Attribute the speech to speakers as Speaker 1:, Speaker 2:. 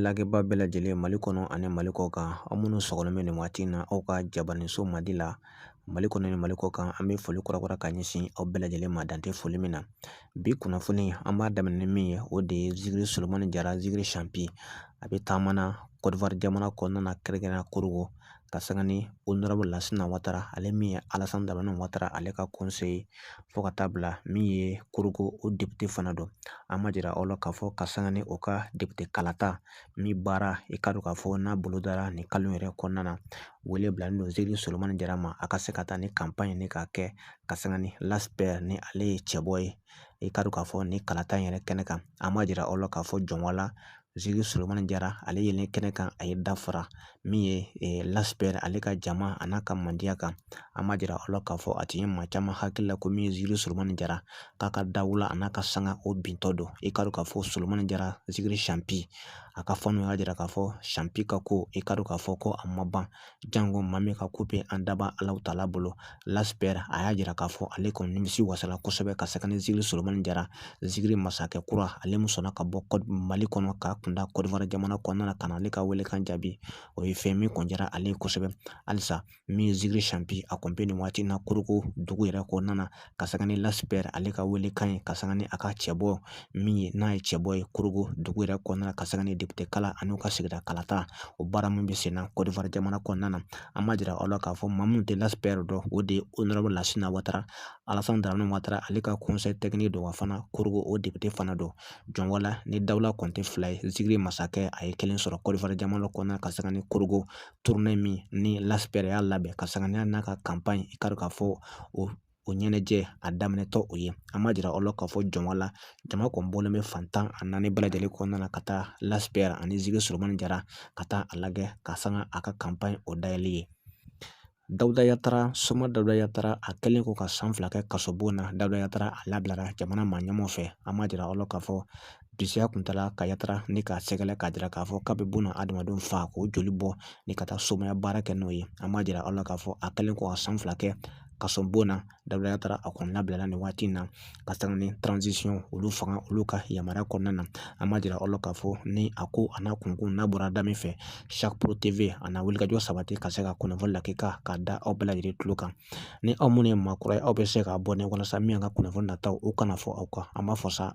Speaker 1: lagɛbaa bɛɛ lajɛlen mali kɔnɔ ani mali kɔ kan aw minnu sɔgɔlen bɛ nin waati in na aw ka jabaraninso mandi la mali kɔnɔ ni mali kɔ kan an bɛ foli kura kura ka ɲɛsin aw bɛɛ lajɛlen ma dan tɛ foli min na bi kunnafoni an b'a daminɛ ni min ye o de ye zikiri solomani jara zikiri sanpi a bɛ taama na kɔdiwari jamana kɔnɔna na kɛrɛnkɛrɛnnenya korogo ka sanga ni onorabulu lasina watara ale min ye alasani daramani watara ale ka konseye fo ka taa bila min ye korogo o depite fana don an b'a jira aw la k'a fɔ ka sanga ni o ka depite kalata min baara i k'a dɔn k'a fɔ n'a bolo dara nin kalo yɛrɛ kɔnɔna na wele bilalen don zikiri solomani jara ma a ka se ka taa ni kanpaɲi in ye k'a kɛ ka sanga ni Lass PR ni ale ye cɛbɔ ye i k'a dɔn k'a fɔ nin kalata in yɛrɛ kɛnɛ kan an b'a jira aw la k'a fɔ jɔn wala zikiri solomani jara ale yelen kɛnɛ kan a ye dɔ fara min ye Lass PR ale ka jama a n'a ka mandiya kan an b'a jira aw la k'a fɔ a tun ye maa caman hakili la ko min ye zikiri solomani jara k'a ka dawula a n'a ka sanga o bintɔ don i k'a dɔn k'a fɔ solomani jara zikiri sanpi a ka fanw y'a jira k'a fɔ sanpi ka ko i k'a dɔn k'a fɔ ko a ma ban Jango maa min ka ko bɛ an daba ala taala bolo Lass PR a y'a jira k'a fɔ ale kɔni nimisi wasala kosɛbɛ ka sanga ni zikiri solomani jara zikiri masakɛ kura ale min sɔnna ka bɔ mali kɔnɔ k'a kunda kɔdiwari jamana kɔnɔna na ka na ale ka welekan jaabi o ye fɛn min kɔni diyara ale ye kosɛbɛ halisa min ye zikiri sanpi a kɔni bɛ nin waati in na korogo dugu yɛrɛ kɔnɔna na ka sanga ni Lass PR ale ka welekan ye ka sanga ni a ka cɛ bɔ min ye n'a ye cɛ bɔ ye korogo dugu yɛrɛ kɔnɔna na ka sanga ni depite kalata ani ka sigida kalata o baara min bɛ sen na kɔdiwari jamana kɔnɔna na an b'a jira aw la k'a fɔ maa minnu tɛ Lass PR dɔn o de ye onorabulu lasina watara alasani daramani watara ale ka konseye tɛkiniki don wa fana korogo o depite fana don jɔn wala ni dawula kɔni tɛ fila ye zikiri masakɛ a ye kelen sɔrɔ kɔdiwari jamana kɔnɔna ka sanga ni korogo turune min ni Lass PR y'a labɛn ka sanga n'a ka kanpaɲi i k'a dɔn k'a fɔ o ɲɛnajɛ a daminɛtɔ o ye an b'a jira aw la k'a fɔ jɔn wala jama kɔni bɔlen bɛ fan tan ani naani bɛɛ lajɛlen kɔnɔna na ka taa Lass PR ani zikiri solomani jara ka taa a lajɛ ka sanga a ka kanpaɲi o dayɛlɛli ye dawuda yatara soma dawuda yatara a kɛlen kɔ ka san fila kɛ kaso bon na dawuda yatara a labilara jamana maa ɲɛmaaw fɛ an b'a jira aw la k'a fɔ Disiya kun taara ka yatara ni k'a sɛgɛrɛ k'a jira k'a fɔ k'a bɛ buna adamadenw faga k'o joli bɔ ni ka taa somaya baara kɛ n'o ye an b'a jira aw la k'a fɔ a kɛlen kɔ ka san fila kɛ kaso bon na dawuda yatara a kɔni labilara nin waati in na ka sanga ni transisiyɔn olu fanga olu ka yamaruya kɔnɔna na an b'a jira aw la k'a fɔ ni a ko a n'a kunkun n'a bɔra da min fɛ a na wulikajɔ sabati ka se ka kunnafoni lakika k'a da aw bɛɛ lajɛlen tulo kan ni aw minnu ye maa kura ye aw bɛ se k'abɔne walasa min ka kunnafoni nataw o kana fɔ aw kɔ an b'a fɔ sa